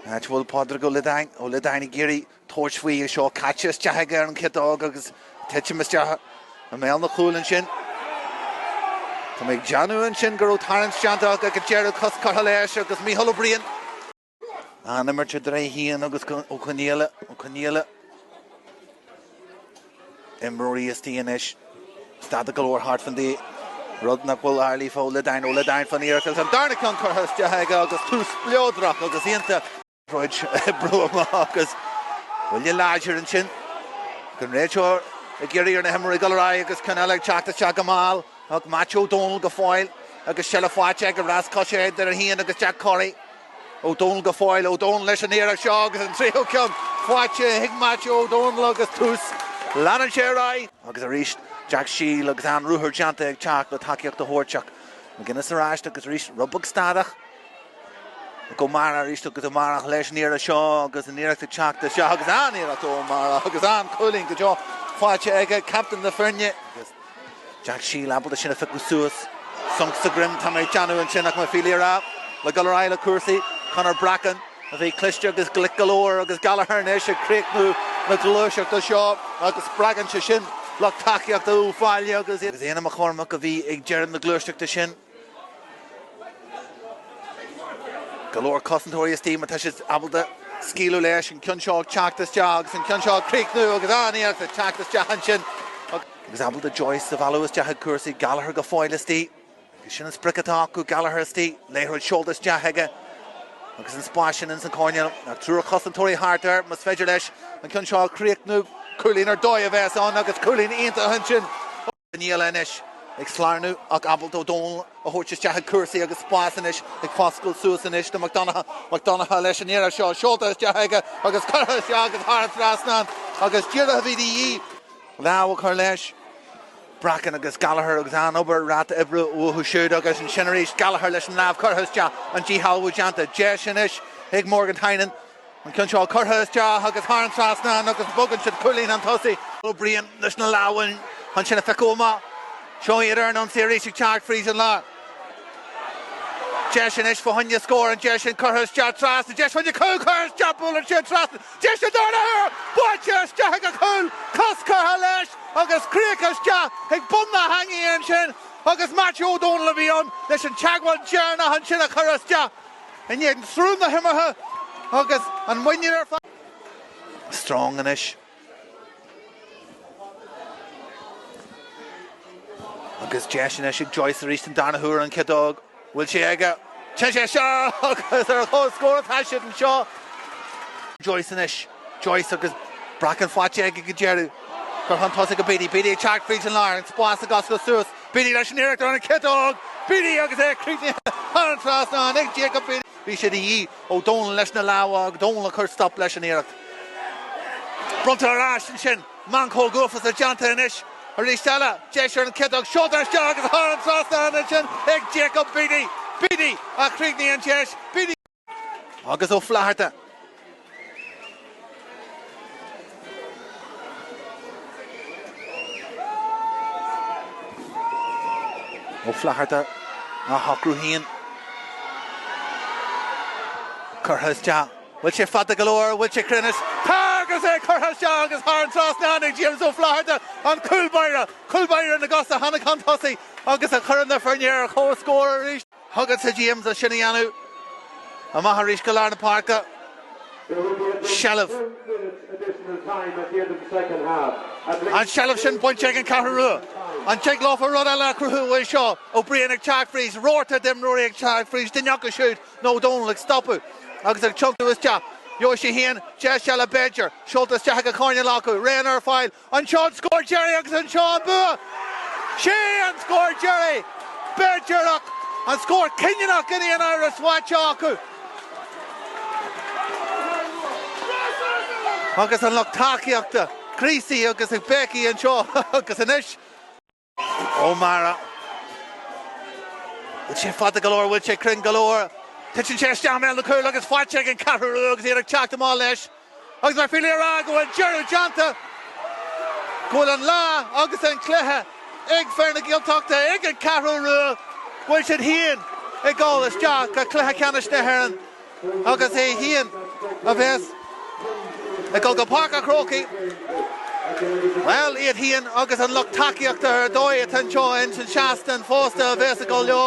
Áit a bhfuil Pádraig Ó Loideáin, Ó Liodáin, ag iarraidh tabhairt faoi seo caite isteach aige ar an chiotóg agus titim isteach i mbéal an chúil ansin. Tá mé ag déanamh ansin go raibh tarraingt déanta acu ag an deireadh, cos curtha leis agus Micheál Ó Briain an imirt idir é féin agus Ó Conghaile. Imreoirí istigh anois. Statach go leor thart fán D, rud nach bhfuil ar lí faoi Ó Loideáin, Ó Loideáin fán iarracht agus an darna ceann curtha isteach aige agus tús spleodrach agus iontach. Rud a oibriú amach agus buille láidir ansin don réiteoir ag iarraidh ar na himreoirí dul ar aghaidh agus ceann eile ag teacht isteach go mall ach Maitiú Ó Dónaill go fóill agus seilbh faighte aige, rás coise idir é féin agus Jack Corry. Ó Dónaill go fóill. Ó Dónaill leis an iarracht seo agus an tríú ceann faighte ag Maitiú Ó Dónaill agus tús. Leanann sé ar aghaidh. agus arís. Jack Sheil agus an-ruathar déanta ag teacht le tacaíocht a thabhairt ach McGuinness ar ais agus arís rud beag statach. Ag Ó Meara arís agus Ó Meara leis an iarracht seo agus an iarracht ag teacht isteach agus an-iarracht ó Ó Meara agus an-chúilín go deo faighte aige, captain na foirne. Jack Sheil ábalta sin a phiocadh suas. Sonc sa droim tá mé ag déanamh ansin ach mo phílí a rá. Le dul ar aghaidh le cúrsaí, Conor Bracken, a bhí cliste agus glic go leor agus Gallagher anois ag críochnú na gluaiseachta seo agus spreagann sé sin lucht tacaíochta Uíbh Fhailí agus Éanna McCormack a bhí ag deireadh na gluaiseachta sin. Go leor cosantóirí istigh má tá siad ábalta scaoileadh leis, an ceann seo ag teacht isteach agus an ceann seo ag críochnú agus aníos ag teacht isteach ansin agus ábalta Joyce a mhealladh isteach i gcúrsaí Gallagher go fóill istigh agus sin an sprioc atá acu Gallagher istigh, liathróid seolta isteach aige agus an spás sin ins an coirnéal ach triúr cosantóirí thart air, más féidir leis an ceann seo a chríochnú, cúilín ar dóigh a bheas ann agus cúilín iontach ansin ó. Níl anois ag slárnu ach ábalta Ó Dónaill a thabhairt isteach i gcúrsaí agus spás anois ag foscal suas anois do Mac Donnchadha. Mac Donnchadha leis an iarracht seo seolta isteach aige agus curtha isteach agus thar an trasnán agus díreach a bhí de dhíth, lámh a chur leis. Bracken agus Gallagher agus an-obair, ráta oibre uathu siúd agus ansin arís Gallagher leis an lámh curtha isteach, an díshealbhú déanta. Deis anois ag Morgan Tynan. An ceann seo curtha isteach agus thar an trasnán agus bogann siad cúilín chun tosaigh. Ó Briain leis na lámhainní chun sin a phiocadh amach. Seo iad ar an ionsaí arís ag teacht fríd an lár. Deis anois fá choinne scór, an deis sin curtha isteach trasna, deis chuig cúl curtha isteach, buaileann siad trasna, deis sa dara huair, buailte isteach ag an chúl, cos curtha leis agus curtha isteach ag bun na heangaí ansin agus Maitiú Ó Dónaill a bhí ann leis an teagmháil dheireanach ansin a chur isteach. In éadan sruth na himeartha agus an muinín ar fad. Strong anois. Agus deis anois ag Joyce arís den darna huair an chiotóg an bhfuil sé aige. Téann sé isteach agus ar an chomhscór atá siad anseo. Joyce anois. Joyce agus Bracken faighte aige go deireadh. Curtha chun tosaigh go Beatty. Beatty ag teacht fríd an lár. An spás ag oscailt suas. Beatty leis an iarracht ar an chiotóg! Beatty agus é críochnaithe thar an trasnán ag Jacob Beatty. Bhí sé de dhíth. Ó Dónaill leis na lámha, Ó Dónaill ag cur stop leis an iarracht. Bronntar ar ais ansin. Meancóg uafásach déanta anois. Arís eile, deis ar an chiotóg. Seoltar isteach agus thar an trasnán ansin ag Jacob Beatty. Beatty a chríochnaigh an deis. Beatty. agus Ó Flaithearta. Ó Flaithearta á shocrú féin. Curtha isteach. Bhfuil sé fada go leor? Bhfuil sé cruinn? Tá! Agus é curtha isteach agus thar an trasnán ag James Ó Flaithearta, an cúlbáire, cúlbáire na gcos a tháinig chun tosaigh agus a chuireann na foirne ar comhscór arís. Thugas-sa díom do sin a dhéanamh. Amach arís go lár na páirce. Seilbh. An tseilbh sin bainte ag an Cheathrú Rua. An dtig leofa rud eile a chruthú uaidh seo? Ó Briain ag teacht fríd, rabharta d'imreoirí ag teacht fríd, duine acu siúd nó Ó Dónaill ag stopadh agus ag tiontú isteach. Gheobhaidh sé féin deis eile b'fhéidir. Seolta isteach ag an choirnéal acu. Éanna ar fáil. Anseo an scór deiridh agus anseo an bua. Sé an scór deiridh b'fhéidir ach, an scór cinniúnach in aon uair is mhaith seo acu agus an lucht tacaíochta, Creasy agus béicí anseo agus anois. Ó Meara. Bhfuil sé fada go leor, bhfuil sé cruinn go leor? Titeann sé isteach i mbéal na cúile agus faighte ag an Cheathrú Rua agus iad ag teacht amach leis. Agus mar fíor le rá go bhfuil deireadh déanta, go bhfuil an lá agus an cluiche ag fir na Gaeltachta, ag an Cheathrú Rua, bhfuil siad féin ag dul isteach go Cluiche Ceannais na hÉireann. agus é féin a bheas ag dul go Páirc an Chrócaigh, bhuel, iad féin agus an lucht tacaíochta ar dóigh atá anseo ins an seastán fosta a bheas ag dul leo.